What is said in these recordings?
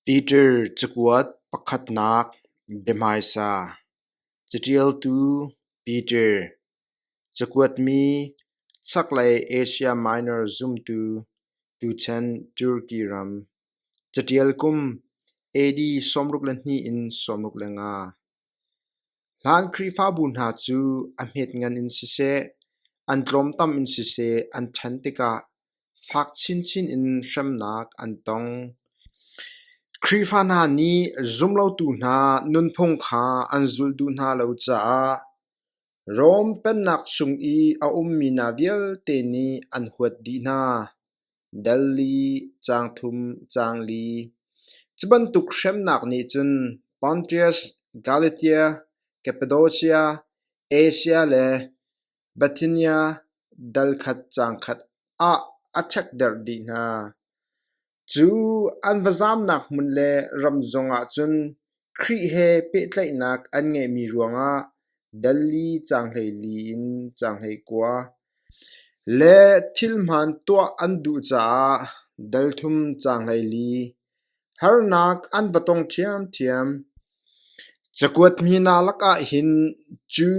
Peter cakuat pakhatnak biahmaisa Caṭialtu Peter Cakuatmi Chaklei Asia Minor zumtu tuchan Turki ram Caṭial kum AD sawmruk le hnih in sawmruk le nga. Hlan Khrihfabu hna cu a hmet ngan in siseh, an tlawmtam in siseh an ṭhan tikah fak chinchin in hremnak an tong. Khrihfa hna nih zumlotu hna nunphung kha an zulh duh hna lo caah Rom Pennak chung i a ummi hna vialte nih an huat dih hna. Dal li, caang thum, caang li. Cu bantuk hremnak nih cun Pontius, Galatia, Kappadocia, Asia le Bithynia dal khat caang khat ah a ṭhekderh dih hna. Cu an va zaamnak hmun le ram zongah cun Khrih he pehtlaihnak an ngeihmi ruangah dal li caanghlei li in caanghlei kua le thilhmaan tuah an duh caah dalthum caanghlei li harnak an va tong ṭhiamṭhiam. Cakuat hmina lakah hin cu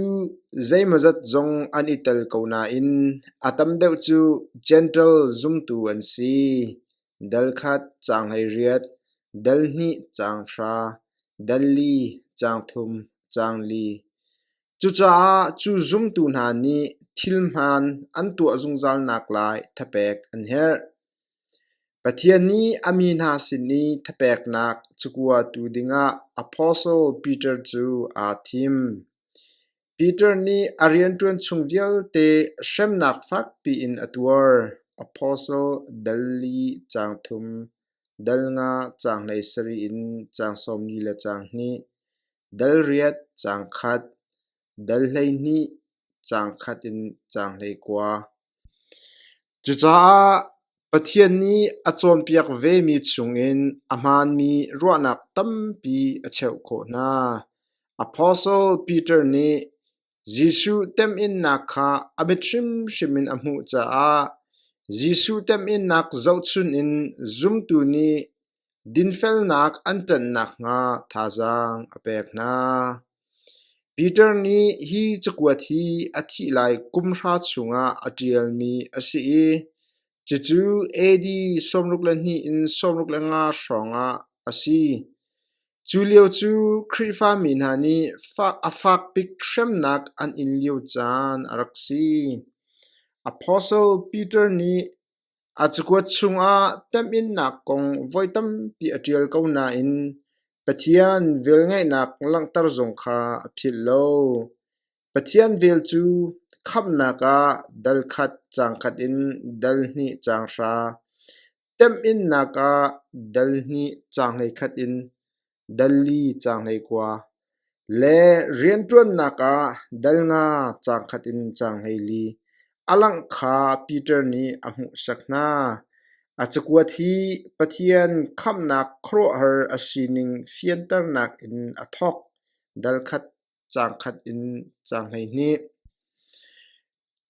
zeimawzat zong an i tel ko nain a tam deuh cu Jentail zumtu an si. Dal khat caang hleiriat, dal hnih caang hra, dal li caang thum caang li. Cucaah cu zumtu hna nih thil hmaan an tuah zungzalnak lai thapek an herh. Pathian nih a mi hna sin i thapeknak cakuatu dingah apostle Peter cu aa thim. Peter nih a rianṭuan chung vialte hremnak fakpi in a tuar. Apostle dal li caang thum, dal nga caang hleisarih in caang sawmli le caang hnih, dal riat caang khat, dal hleihnih caang khat in caang hlei kua. Cucaah Pathian nih a cawnpiak vemi chungin a hmaanmi ruahnak tampi a cheuh khawh hna. Apostle Peter nih Jesuh temhinnak kha a biat hrimhrim in a hmuh caah Jesuh temhinnak zohchunh in zumtu nih Dinfelnak an ṭan nakhnga thazaang a pek hna. Peter nih hi cakuat hi a thih lai kum hra chungah a ṭialmi a si i cucu AD sawmruk le hnih in sawmruk le nga hrawngah a si. Cu lio cu Khrihfa mi hna nih a fak bik hremnak an in lio caan a rak si. Apostle Peter nih A cakuat chungah temhinnak kong voi tampi a ṭial ko nain Pathian velngeihnak langhter zong kha a philh lo. Pathian vel cu khamhnak ah dal khat caang khat in dal hnih caang hra, temhinnak ah dal hnih caang hlei khat in Dalli caanghlei kua le rianṭuannak ah dal nga caangkhat in caanghlei li a langh kha Peter nih a hmuhsak hna. A cakuat hi Pathian khamhnak khuaruahhar a sining fianternak in a thawk, dal khat, caang khat in caanghleihnih.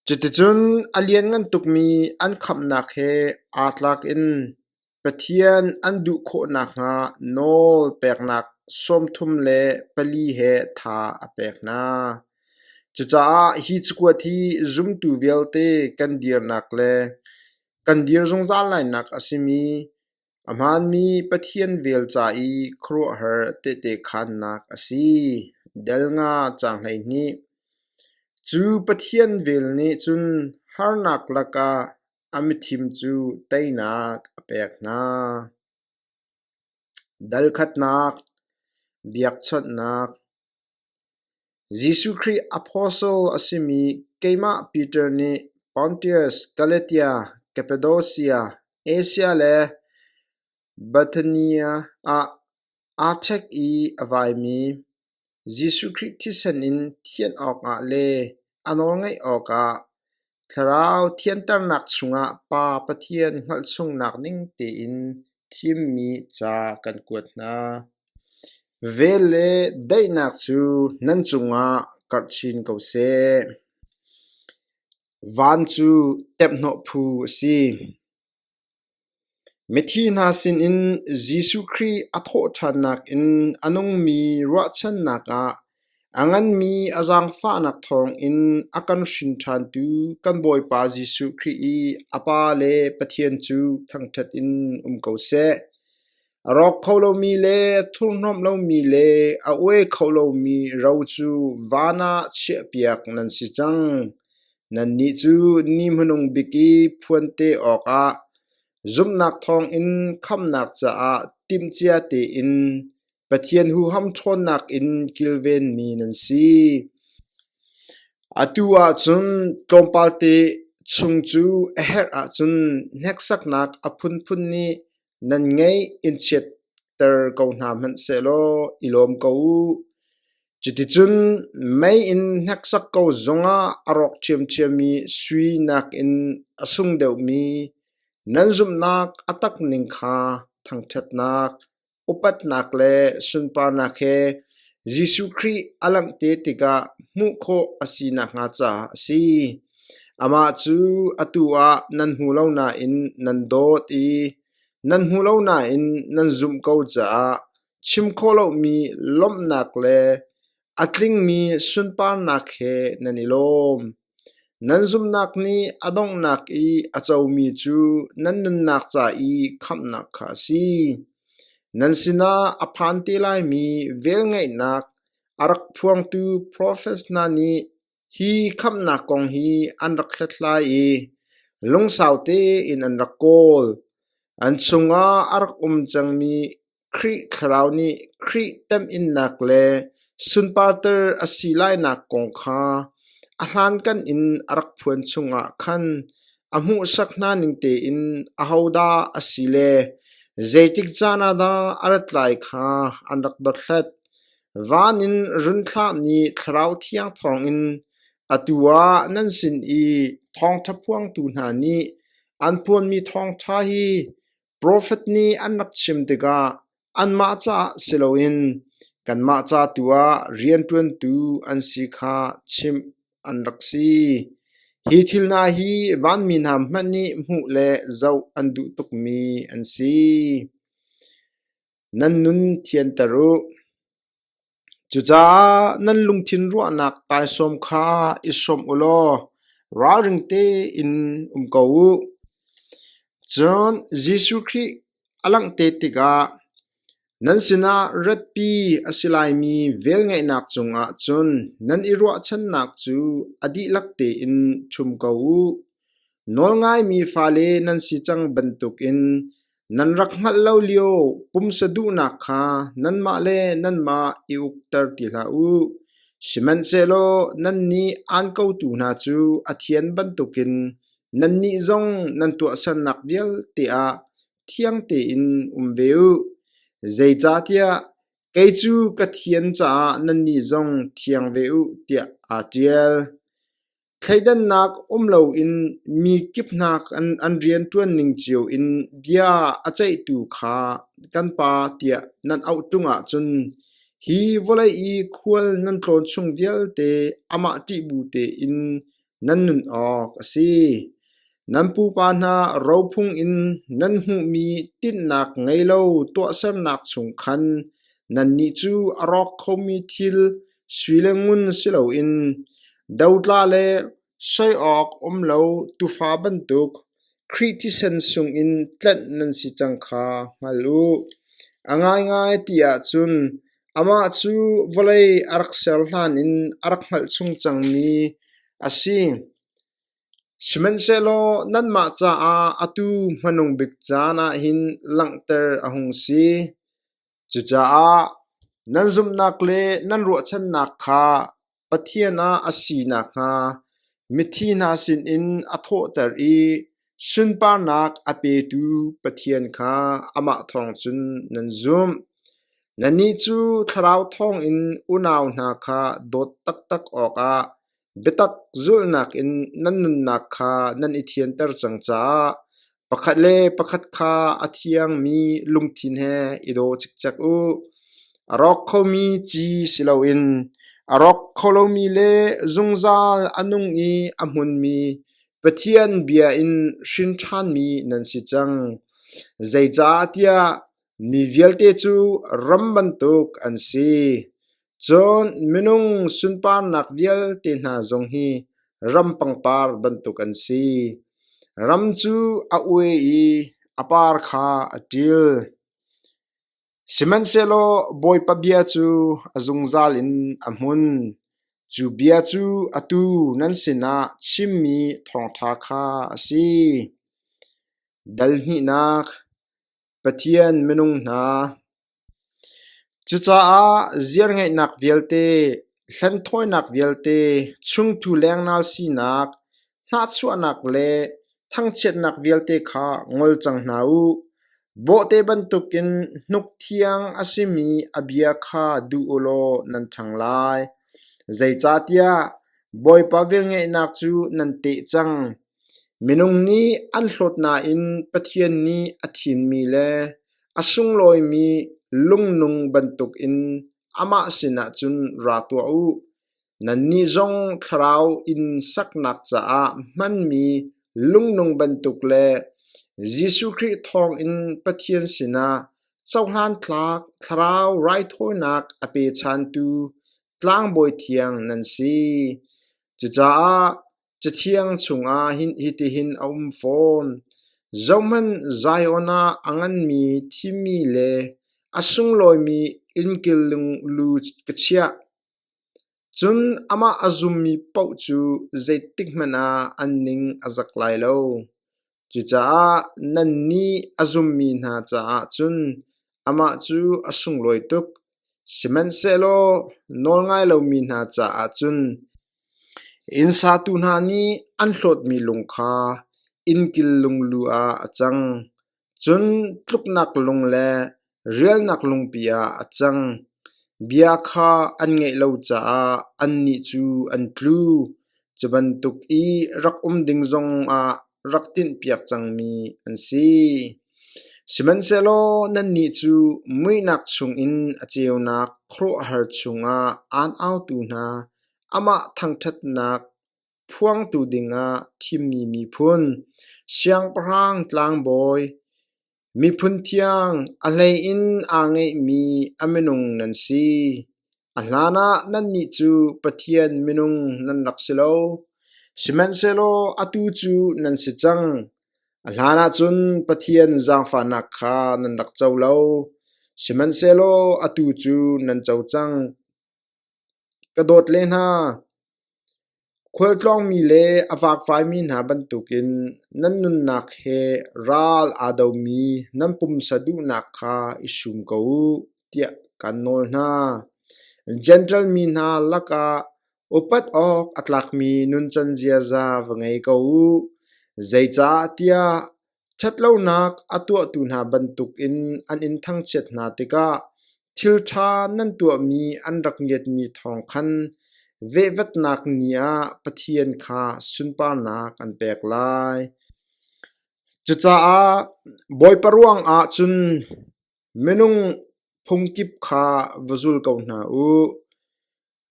Cuticun a lianngan tukmi an khamhnak he aa tlak in Pathian an duh khawh nakhnga nawl peknak sawmthum le pali he tha a pek hna. Cucaah hi cakuat hi zumtu vialte kan dirnak le kan dir zungzal lainak a simi A hmaanmi Pathian vel ca i khuaruahhar tehte khaannak a si. Del nga caang hleihnih. Cu Pathian vel nih cun harnak lakah a mithim cu teinak a pek hna. Dalkhatnak, biakchawnhnak, Jesuh Khrih apostle a simi keimah Peter nih Pontius, Galatia, Kappadosia, Asia le Bithynia ah aa ṭhek i a vaimi Jesuh Khrih thisen in thianh awkah le a nawlngaih awkah Thlarau thianternak chungah Pa Pathian hngalhsungnak ning tein thimmi ca kan kuat hna. Vel le daihnak cu nan cungah karh chin ko seh. Van cu temhhnawh phu a si. Mithi hna sinin Jesuh Khrih a thawhṭhannak in a nungmi ruahchannak ah a nganmi a zaangfahnak thawngin a kan hrinṭhantu kan Bawipa Jesuh Khrih i a Pa le Pathian cu thangṭhat in um ko seh. A rawk kho lomi le thurhnomh lomi le a oe kho lomi ro cu van ah chiahpiak nan si cang. Nannih cu ni hmanung bik i phuante awkah zumhnak thawngin khamnak caah timhcia tein Pathian huham ṭhawnnak in kilvenmi nan si. Atu ah cun tlawmpalte chung cu a herh ahcun hneksaknak a phunphun nih Nan ngeih in chiatter ko hna hmanhsehlaw i lawm ko u. Cuticun mei in hneksak ko zungah a rawk ṭhiamṭhiammi sui nakin a sung deuhmi nan zumhnak a tak ning kha thangṭhatnak, upatnak le sunparnak he Jesuh Khrih a langh te tikah hmuh khawh a si nakhnga caah a si. Amah cu atu ah nan hmu lo nain nan dawt i nan hmu lo nain nan zumh ko caah chim khawh lomi lawmhnak le a tlingmi sunparnak he nan i lawm. Nan zumhnak nih a donghnak i a comi cu nan nunnak ca i khamhnak kha a si. Nan sinah a phan te laimi velngeihnak a rak phuangtu profets hna nih Hi khamhnak kong hi an rak hlathlai i lungsau tein an rak kawl. An chungah a rak um cangmi Khrih Thlarau nih Khrih temhinnak le sunparter a si lainak kong kha a hlankan in a rak phuan chungah khan a hmuhsak hna ning tein ahodah a si le zeitik caan ah dah a rat lai kha an rak dothlat. Van in run thlah nih thlarau thiang thawngin atu ah nan sin i thawngṭha phuangtu hna nih an phuanmi thawngṭha hi profet nih an rak chim tikah anmah caah si loin kanmah ca tu ah rianṭuantu an si kha chimh an rak si. Hi thil hna hi vanmi hna hmanh nih hmuh le zoh an duh tukmi an si. Nan nun thianter u. Cucaah nan lungthin ruahnak taisawm kha i sawm u law ralring tein um ko u. Cun Jesuh Khrih a langhte tikah nan sinah ratpi a si laimi velngeihnak cungah cun nan i ruahchannak cu a dihlak tein ṭhum ko u. Nawl ngaimi fale nan si cang bantukin nan rak hngalh lo lio pumsa duhnak kha nanmah le nanmah i ukter ti hlah u. Sihmanhsehlaw nannih aan kotu hna cu a thian bantukin nannih zong nan tuahsernak vialte ah thiang tein um ve u. Zeicahtiah kei cu ka thian caah nannih zong thiang ve u, tiah aa ṭial. Thleidannak um loin mi kipnak an rian ṭuan ning cio in bia a ceihtu kha kan pa tiah nan auh ṭung ahcun hi vawlei i khual nan tlawn chung vialte amah ṭihbu tein nan nun awk a si. Nan pupa hna rophung in nan hmuhmi tinhnak ngei lo tuahsernak chung khan nannih cu a rawk khomi thil Sui le ngun si loin dotla le soi awk um lo tufa bantuk Khrih thisen sungin tlanh nan si cang kha hngal u. A ngaingai ti ahcun amah cu vawlei a rak ser hlanin a rak hngalh chung cangmi a si. Sihmanhsehlaw nanmah caah atu hmanung bik caan ah hin langhter a hung si. Cucaah nan zumhnak le nan ruahchannak kha Pathian ah a si nakhnga mithi hna sinin a thawhter i sunparnak a petu Pathian kha amah thawng cun nan zumh. Nannih cu Thlarau thawngin unau hna kha dawt taktak awkah Biatak zulhnak in nan nunnak kha nan i thianter cang caah pakhat le pakhat kha a thiangmi lungthin he i daw cikcek u. A rawk khomi ci si loin a rawk kho lomi le zungzal a nung i a hmunmi Pathian bia in hrin ṭhanmi nan si cang. Zeicahtiah Mi vialte cu ram bantuk an si, cun minung sunparnak vialte hna zong hi ram pangpar bantuk an si. Ram cu a ue i a par kha a ṭil. Sihmanhsehlaw Bawipa bia cu a zungzal in a hmun; cu bia cu atu nan sinah chimmi thawngṭha kha a si. Dal hnihnak Pathian minung hna, cucaah ziarngeihnak vialte, hlenthawinak vialte, chungthu lengnal sinak, hnahchuahnak le thangchiatnak vialte kha ngol cang hna u. Bawhte bantukin hnuk thiang a simi a bia kha duh u law nan ṭhang lai. Zeicahtiah Bawipa velngeihnak cu nan teh cang. Minung nih an hlawt nain Pathian nih a thimmi le a sunglawimi lungnung bantukin amah sinah cun ra tuah u. Nannih zong thlarau in saknak caah hmanmi lungnung bantuk le Jesuh Khrih thawngin Pathian sinah cohlantlak thlarau raithawinak a pechantu tlangbawi thiang nan si. Cucaah Cathiang chungah hitihin a um fawn: Zohhmanh, Zion ah a nganmi thimmi le a sunglawimi innkilling lu ka chiah. Cun amah a zummi paoh cu zeitikhmanh ah an ning a zak lai lo. Cucaah nan nih a zummi hna caah cun amah cu a sunglawi tuk; sihmanhsehlaw nawlngai lomi hna caah cun inn satu hna nih an hlawtmi lung kha innkil lung lu ah a cang; cun tluknak lung le Rialnak lungpi ah a cang, bia kha an ngaih lo caah annih cu an tlu, cu bantuk i rak um ding zongah rak tinhpiak cangmi an si. Sihmanhsehlaw nannih cu muihnak chungin a ceunak khuaruahhar chungah aan autu hna, amah thangṭhatnak phuangtu dingah thimmi miphun, siangpahrang tlangbawi, Miphun thiang a hlei in aa ngeihmi a minung nan si. A hlanah nannih cu Pathian minung nan rak si lo, sihmanhsehlaw atu cu nan si cang. A hlanah cun Pathian zaangfahnak kha nan rak co lo, sihmanhsehlaw atu cu nan co cang. Ka dawt le hna, Khualtlawngmi le a fakfaimi hna bantukin nan nunnak he ral aa domi nan pumsa duhnak kha i sum ko u tiah kaan nawl hna. Jentail mi hna lakah upat awk a tlakmi nuncan ziaza va ngei ko u, zeicahtiah Ṭhatlonak a tuahtu hna bantukin an in thangchiat hna tikah thilṭha nan tuahmi an rak ngiatmi thawng khan vehvatnak ni ah Pathian kha sunparnak an pek lai. Cucaah Bawipa ruangah cun minung phungkip kha va zul ko hna u.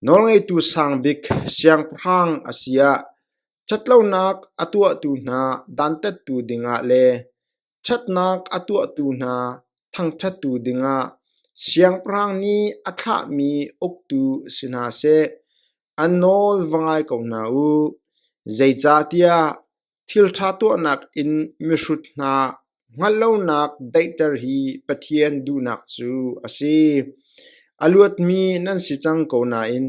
Nawlngeitu sang bik siangpahrang a si ah ṭhatlonak a tuahtu hna dantattu dingah le ṭhatnak a tuahtu hna thangṭhattu dingah siangpahrang nih a thlahmi uktu si hna seh, an nawl va ngai ko hna u. Zeicahtiah thil ṭha tuahnak in mihrut hna Hngalhlonak daihter hi Pathian duhnak cu a si. A luatmi nan si cang ko nain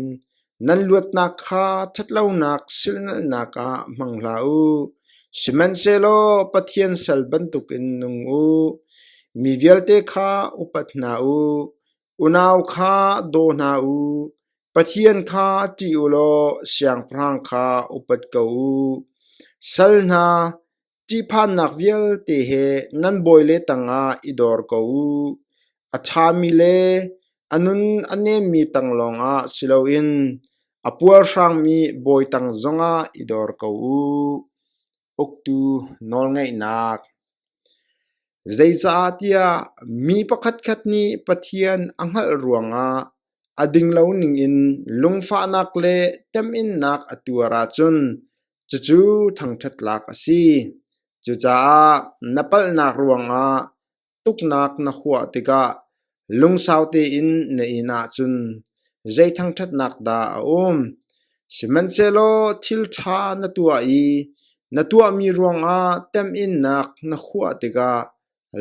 nan luatnak kha ṭhatlonak silhnalhnak ah hmang hlah u. Sihmanhsehlaw Pathian sal bantukin nung u. Mi vialte kha upat hna u. Unau kha daw hna u. Pathian kha ṭih u law siangpahrang kha upat ko u. Sal hna, Ṭihphannak vialte he nan bawile tangah i dor ko u. A ṭhami le a nun a nemmi tang lawngah si loin a puarhrangmi bawi tang zongah i dor ko u. Uktu nawlngaihnak Zeicahtiah mi pakhatkhat nih Pathian a hngalh ruangah A dinglo ningin lungfahnak le temhinnak a tuar ahcun cucu thangṭhat lak a si. Cucaah na palhnak ruangah tuknak na huah tikah lungsau tein na in ahcun zei thangṭhatnak dah a um? Sihmanhsehlaw thil ṭha na tuah i na tuahmi ruangah temhinnak na huah tikah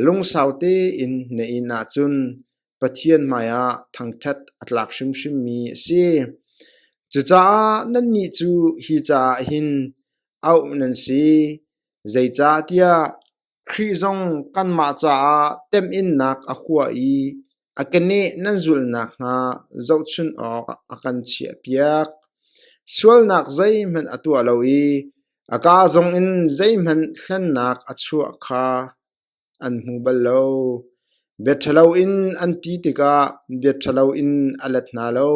lungsau tein na in ahcun Pathian hmaiah thangṭhat a tlak hrimhrimmi a si. Cucaah nannih cu hi caah hin auh nan si, zeicahtiah Khrih zong kanmah caah temhinnak a hua i a keneh nan zulh nakhnga zohchunh awk a kan chiahpiak. Sualnak zeihmanh a tuah lo i a kaa zongin zeihmanh hlennak a chuah kha an hmu bal lo. Bia ṭhalo in an ti tikah bia ṭhalo in a let hna lo.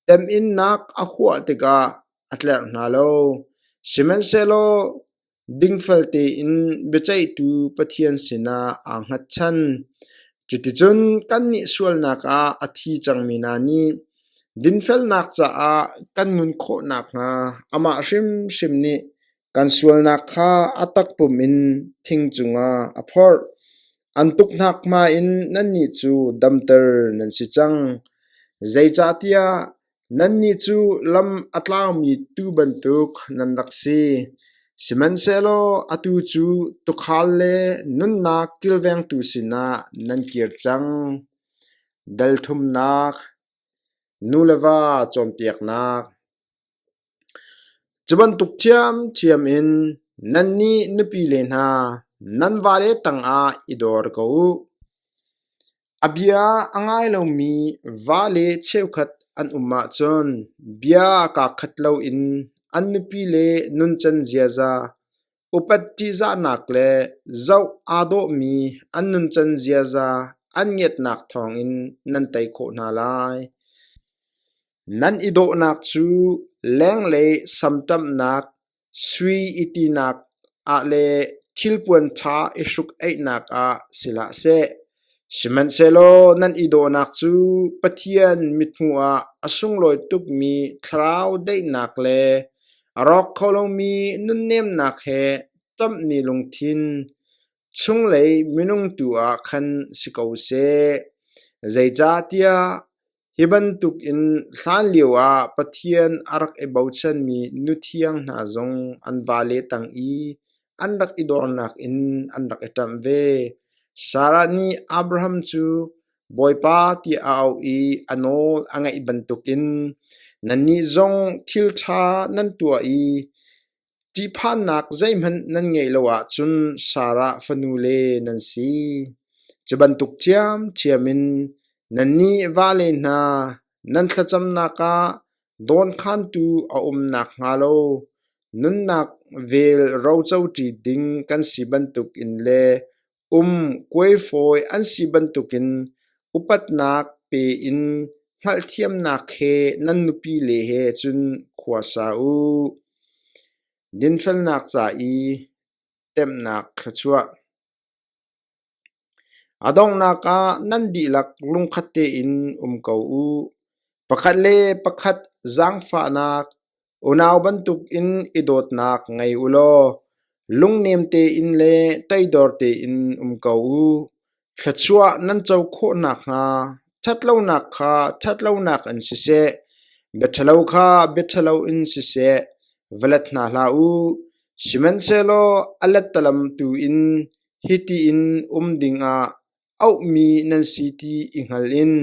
Temhinnak a huah tikah a tlerh hna lo. Sihmanhsehlaw dingfel tein biaceihtu Pathian sinah aa hngatchan. Cuticun kannih sualnak ah a thi cangmi hna nih dinfelnak caah kan nun khawh nakhnga amah hrimhrim nih Kan sualnak kha a takpum in thing cungah a phorh. An tuknak hma in nannih cu damter nan si cang. Zeicahtiah nannih cu lam a tlaumi tuu bantuk nan rak si. Sihmanhsehlaw atu cu tuukhal le nunnak kilvengtu sinah nan kir cang. Dal thumnak, nu le va cawnpiaknak, Cu bantuk ṭhiamṭhiam in nannih nupile hna nan vale tangah i dor ko u. A bia a ngai lomi vale cheukhat an um ahcun bia kaa khat loin an nupile nuncan ziaza, upat ṭihzahnak le zoh aa dawhmi an nuncan ziaza an ngiatnak thawngin nan tei khawh hna lai. Nan i dawhnak cu leng le samṭamnak, sui i tinak ah le thilpuan ṭha i hruk-eihnak ah si hlah seh, sihmanhsehlaw nan i dawhnak cu Pathian mithmuh ah a sunglawi tukmi thlarau daihnak le a rawk kho lomi nunnemnak he ṭamhmi lungthin chunglei minung tu ah khan si ko seh, zeicahtiah Hi bantuk in hlanlio ah Pathian a rak i bochanmi nuthiang hna zong an vale tang i an rak i dornak in an rak i ṭamh ve. Sarah nih Abraham cu bawipa tiah a auh i a nawl a ngaih bantukin nannih zong thil ṭha nan tuah i Ṭihphannak zeihmanh nan ngeih lo ahcun Sarah fanule nan si. Cu bantuk ṭhiamṭhiam in nannih vale hna nan thlacamnak ah dawnkhantu a um nakhnga lo nunnak vel rocoṭi ding kan si bantukin le Um kuaifawi an si bantukin upatnak pe in hngalhthiamnak he nan nupile he cun khua sa u. Dinfelnak ca i temhnak kha chuah. A donghnak ah nan dihlak lungkhat tein um ko u. Pakhat le pakhat zaangfahnak Unau bantukin i dawtnak ngei u law lungnem tein le teidor tein um ko u. Thluachuah nan co khawh nakhnga ṭhatlonak kha ṭhatlonak in siseh, biaṭhalo kha biaṭhalo in siseh, va let hna hlah u. Sihmanhsehlaw a lettalam tu in hiti in um dingah auhmi nan si ti i hngal in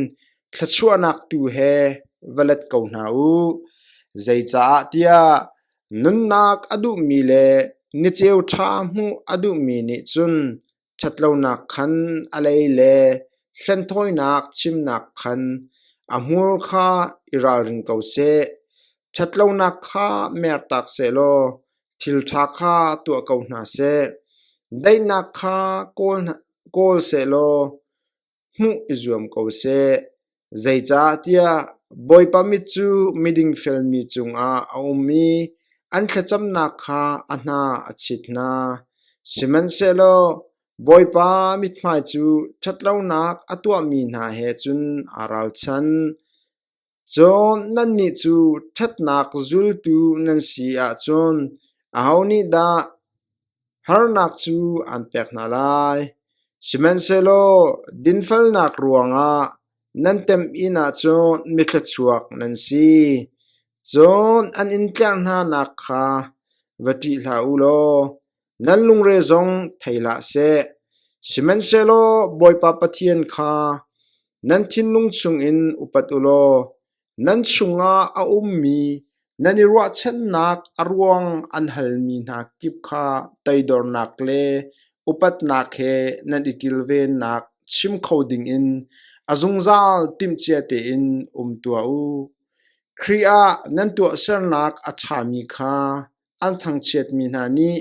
thluachuahnak tu he va let ko hna u. Zeicah tiah nunnak a duhmi le niceu ṭha hmuh a duhmi nih cun ṭhatlonak khan a lei le hlenthawinak chimnak khan a hmur kha i ralring ko seh. Ṭhatlonak kha mertak sehlaw Thil ṭha kha tuah ko hna seh; daihnak kha kawl sehlaw hmuh i zuam ko seh, zeicahtiah Bawipa mit cu miding felmi cungah a um i an thlacamnak kha a hna a chit hna. Sihmanhsehlaw Bawipa mithmai cu ṭhatlonak a tuahmi hna he cun aa ralchan. Cun nannih cu ṭhatnak zultu nan si ahcun aho nih dah harnak cu aan pek hna lai? Sihmanhsehlaw dinfelnak ruangah nan tem inn ah cun mithluachuak nan si. Cun an in tlerh hnanak kha va ṭih hlah u law nan lungre zong thei hlah seh; sihmanhsehlaw Bawipa Pathian kha nan thinlung chungin upat u law nan chungah a ummi nan i ruahchannak a ruang an halmi hna kip kha toidornak le upatnak he nan i kilvennak chim kho dingin a zungzal timhcia tein um tuah u. Khrih ah nan tuahsernak a ṭhami kha an thangchiatmi hna nih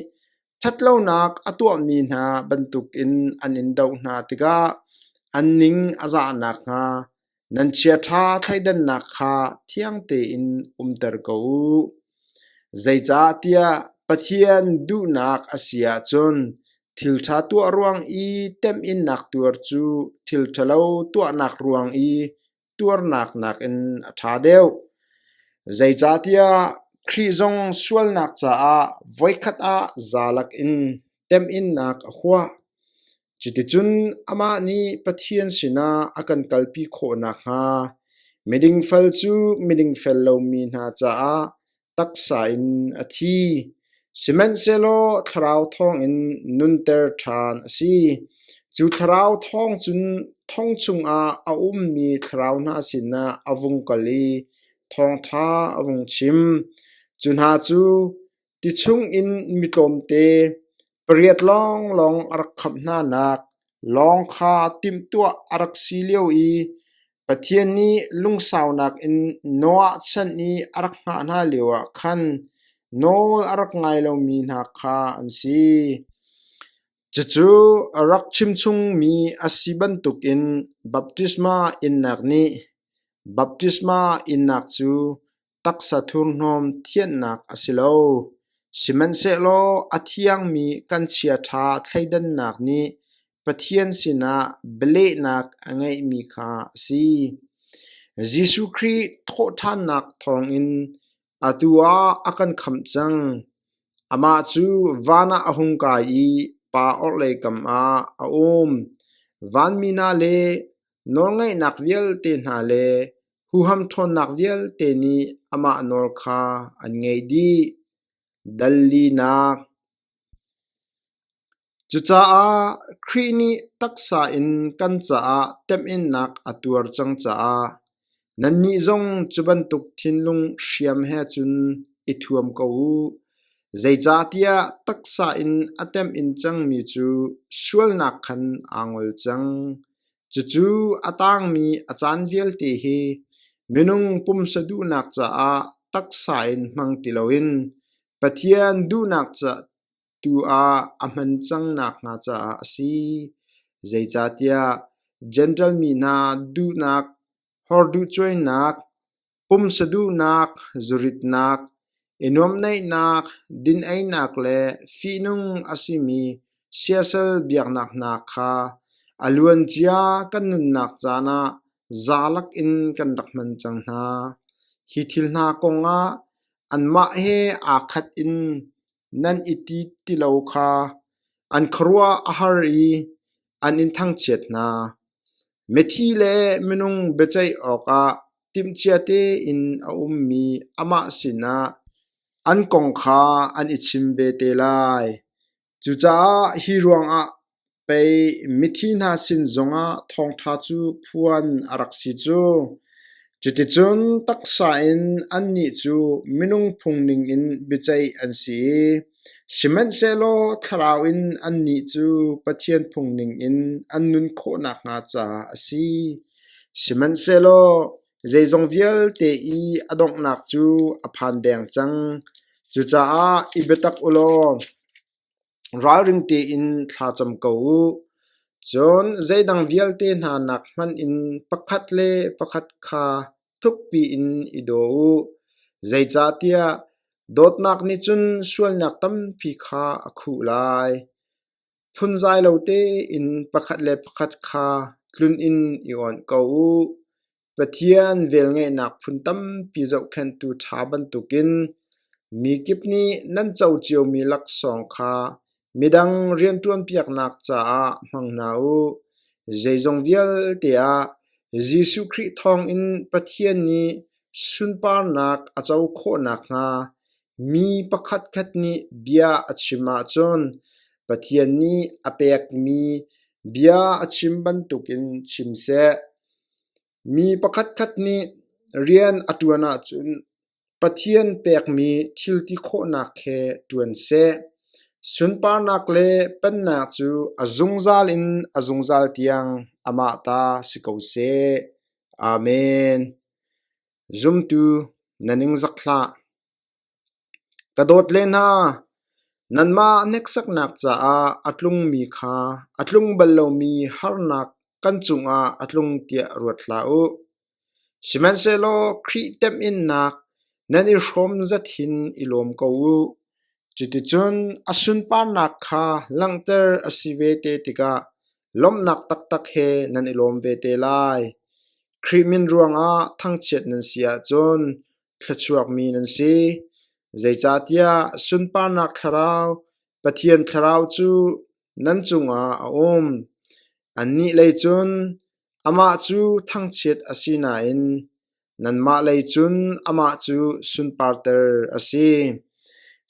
ṭhatlonak a tuahmi hna bantukin an in doh hna tikah an ning a zah nakhnga nan chiaṭha thleidannak kha thiang tein umter ko u. Zeicahtiah Pathian duhnak a si ahcun thilṭha tuah ruang i temhinnak tuar cu thil ṭhalo tuahnak ruang i tuarnak nakin a ṭha deuh. Zeicahtiah Khrih zong sualnak caah voikhat ah zalak in temhinnak a huah. Cuticun amah nih Pathian sinah a kan kalpi khawh nakhnga miding fal cu miding fel lomi hna caah taksa in a thi, sihmanhsehlaw thlarau thawngin nunter ṭhan a si. Cu thlarau thawng cun thong chungah a ummi thlarau hna sinah a vung kal i thawngṭha a vung chim. Cu hna cu ti chungin mi tlawmte pariat lawnglawng a rak khamh hnanak lawng kha timhtuah a rak si lio i Pathian nih lungsaunak in Noah chan i a rak hngah hna lioah khan nawl a rak ngai lomi hna kha an si. Cucu rak chimchungmi a si bantukin baptisma innak nih baptisma innak cu taksa thurhnawm thianhnak a si lo, sihmanhsehlaw a thiangmi kan chiaṭha thleidannak nih Pathian sinah bialehnak a ngeihmi kha a si. Jesuh Khrih thawhṭhannak thawngin atu ah a kan khamh cang. Amah cu van ah a hung kai i pa orhlei kam ah a um. Vanmi hna le nawlngaihnak vialte hna le Huham ṭhawnnak vialte nih amah nawl kha an ngaih dih. Dal linak Cucaah Khrih nih taksa in kan caah temhinnak a tuar cang caah nannih zong cu bantuk thinlung hriam he cun i thuam ko u. Zeicahtiah taksa in a temhin cangmi cu sualnak khan aa ngol cang. Cucu a tangmi a caan vialte hi minung pumsa duhnak caah taksa in hmang ti loin Pathian duhnak ca tu ah a hman cang nakhnga caah a si. Zeicahtiah Jentail mi hna duhnak, hawrduhcuainak, pumsa duhnak, zuritnak, i nuamhneihnak, din-einak le fihnung a simi siasal biaknak hna kha a luancia kan nunnak caan ah zalak in kan rak hman cang hna. Hi thil hna kongah anmah he aa khat in nan i ti ti lo kha an khuaruah a har i an in thangchiat hna. Mithi le minung biaceih awkah timhcia tein a ummi amah sinah an kong kha an i chim ve te lai. Cucaah hi ruangah pei mithi hna sin zongah thawngṭha cu phuan a rak si cu. Cuticun taksa in annih cu minung phung ningin biaceih an si i Sihmanhsehlaw thlarau in annih cu Pathian phungning in an nun khawh nakhnga caah a si; sihmanhsehlaw zeizong vialte i a donghnak cu a phan deng cang. Cucaah i biatak u law ralring tein thla cam ko u. Cun zeidang vialte hna nak hmanh in pakhat le pakhat kha thukpi in i daw u, zeicahtiah Dawtnak nih cun sualnak tampi kha a khuh lai; phunzai lo tein pakhat le pakhat kha tlun in i awnh ko u. Pathian velngeihnak phun tampi zohkhenhtu ṭha bantukin mi kip nih nan co ciomi laksawng kha Midang rianṭuanpiaknak caah hmang hna u. Zeizong vialte ah Jesuh Khrih thawngin Pathian nih sunparnak a co khawh nakhnga mi pakhatkhat nih bia a chim ahcun Pathian nih a pekmi bia a chim bantukin chim seh. Mi pakhatkhat nih rian a ṭuan ahcun Pathian pekmi thilti khawhnak he ṭuan seh. Sunparnak le pennak cu a zungzal in a zungzal tiang amah ta si ko seh. Amen. Zumtu, na ningzak hlah. Ka dawt le hna, nanmah hneksaknak caah a tlungmi kha a tlung bal lomi harnak kan cungah a tlung tiah ruat hlah u. Sihmanhsehlaw Khrih temhinnak nan i hrawm zat hin i lawm ko u. Cuticun a sunparnak kha langhter a si ve te tikah lawmhnak taktak he nan i lawm ve te lai. Khrih min ruangah thangchiat nan si ahcun thluachuakmi nan si, zeicahtiah sunparnak thlarau, Pathian Thlarau cu nan cungah a um. Annih lei cun Amah cu thangchiat a si nain nanmah lei cun amah cu sunparter a si.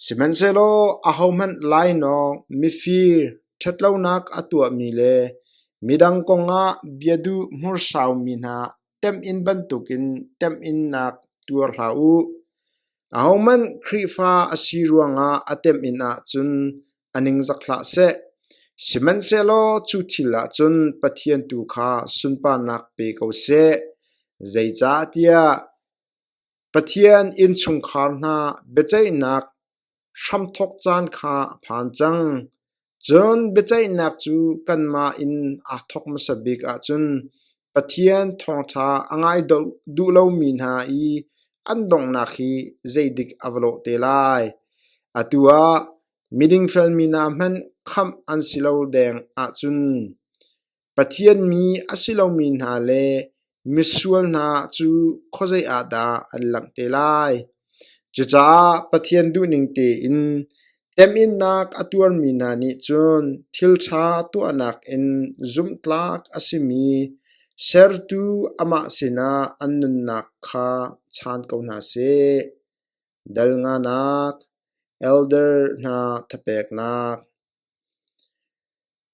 Sihmanhsehlaw ahohmanh lainawng, mifir, ṭhatlonak a tuahmi le midang kongah bia duh hmursaumi hna temhin bantukin temhinnak tuar hlah u. Ahohmanh Khrihfa a si ruangah a temhin ahcun a ningzak hlah seh. Sihmanhsehlaw cu thil ah cun Pathian tu kha sunparnak pe ko seh, zeicahtiah Pathian innchungkhar hna biaceihnak hramthok caan kha a phan cang. Cun biaceihnak cu kanmah in aa thawk hmasa bik ahcun Pathian thawngṭha a ngai duh lomi hna i an donghnak hi zeidik a va lawh te lai? Atu ah miding felmi hna hmanh khamh an si lo deng ahcun Pathian mi a si lomi hna le misual hna cu khuazei ah dah an langh te lai? Cucaah Pathian duhning tein temhinnak a tuarmi hna nih cun thilṭha tuahnak in zumhtlak a simi Sertu amah sinah an nunnak kha chaan ko hna seh. Dal nganak, elder hna thapeknak.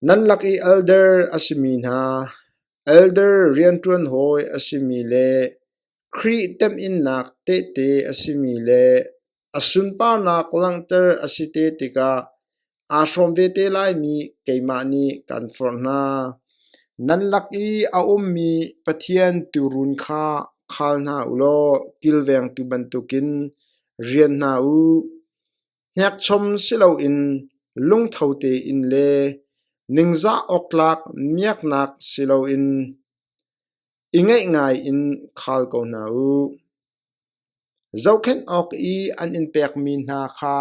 Nan lak i elder a simi hna, elder rianṭuan hawi a simi le Khrih temhinnak tehte a simi le a sunparnak langhter a si te tikah aa hrawm ve te laimi keimah nih kan forh hna. Nan lak i a ummi Pathian tuurun kha khal hna u law kilvengtu bantukin rian hna u. Hnekchom si loin lungtho tein le ningzah awktlak miaknak si loin i ngeih ngaiin khal ko hna u. Zohkhenh awk i an in pekmi hna kha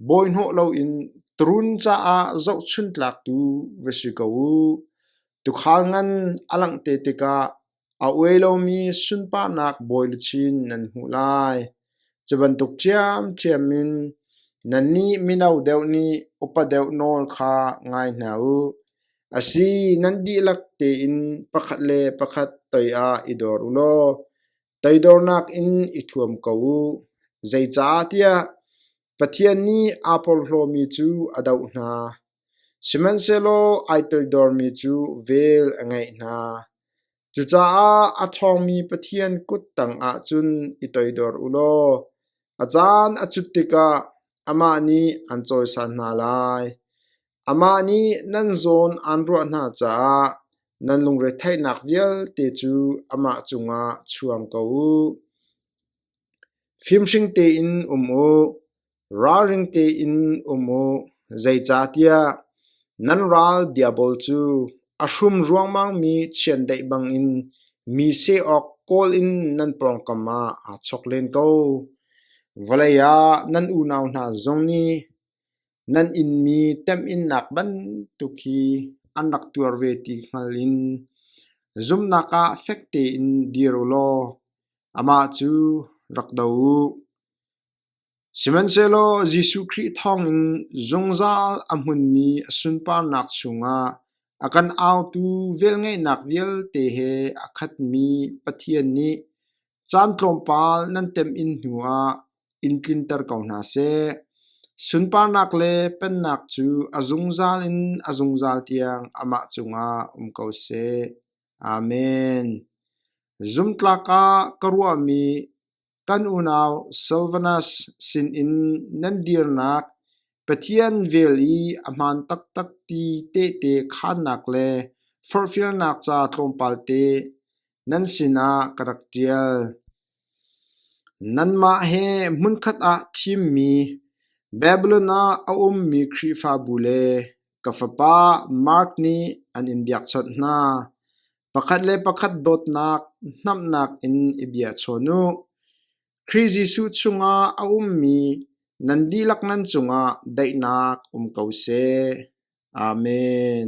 bawihnawh loin turun caah zohchuntlaktu va si ko u. Tuukhal ngan a langh te tikah A uai lomi sunparnak bawi le chin nan hmuh lai. Cubantuk ṭhiamṭhiam in nannih mino deuh nih upa deuh nawl kha ngai hna u. Asi, nan dihlak tein pakhat le pakhat toi ah i dor u law toidornak in i thuam ko u. Zeicahtiah Pathian nih aa porhlawmi cu a doh hna, sihmanhsehlaw ai toidormi cu vel a ngeih hna. Cucaah a ṭhawngmi Pathian kut tangah cun i toidor u law a caan a cut tikah amah nih an cawisan hna lai. Amah nih nan zawn aan ruah hna caah nan lungretheihnak vialte cu amah cungah chuang ko u. Fimhring tein um u, ralring tein um u, zeicahtiah nan ral diabol cu a hrum ruangmangmi chiandeih bangin mi seh awk kawl in nan pawngkam ah aa chok len ko. Vawlei ah nan unau hna zong nih Nan innmi temhinnak bantuk hi an rak tuar ve ti hngal in zumnak ah fek tein dir u law amah cu rak do u. Sihmanhsehlaw Jesuh Khrih thawngin zungzal a hmunmi a sunparnak chungah a kan autu velngeihnak vialte he a khatmi Pathian nih Caan tlawmpal nan temh in hnuah in tlinter ko hna seh. Sunparnak le pennak cu a zungzal in a zungzal tiang amah cungah um ko seh. Amen. Zumtlak ah ka ruahmi kan unau Silvanus sinin nan dirnak Pathian vel i a hmaan taktak ti tehte khaannak le forhfialnak ca tlawmpalte Nan sinah ka rak ṭial. Nanmah he hmunkhat ah thimmi Babilon ah a ummi Khrihfabu le ka fapa Mark nih an in biakchawnh hna. Pakhat le pakhat dawtnak, hnamhnak in i biachon u. Khrih Jesuh chungah a ummi nan dihlak nan cungah daihnak um ko seh. Amen.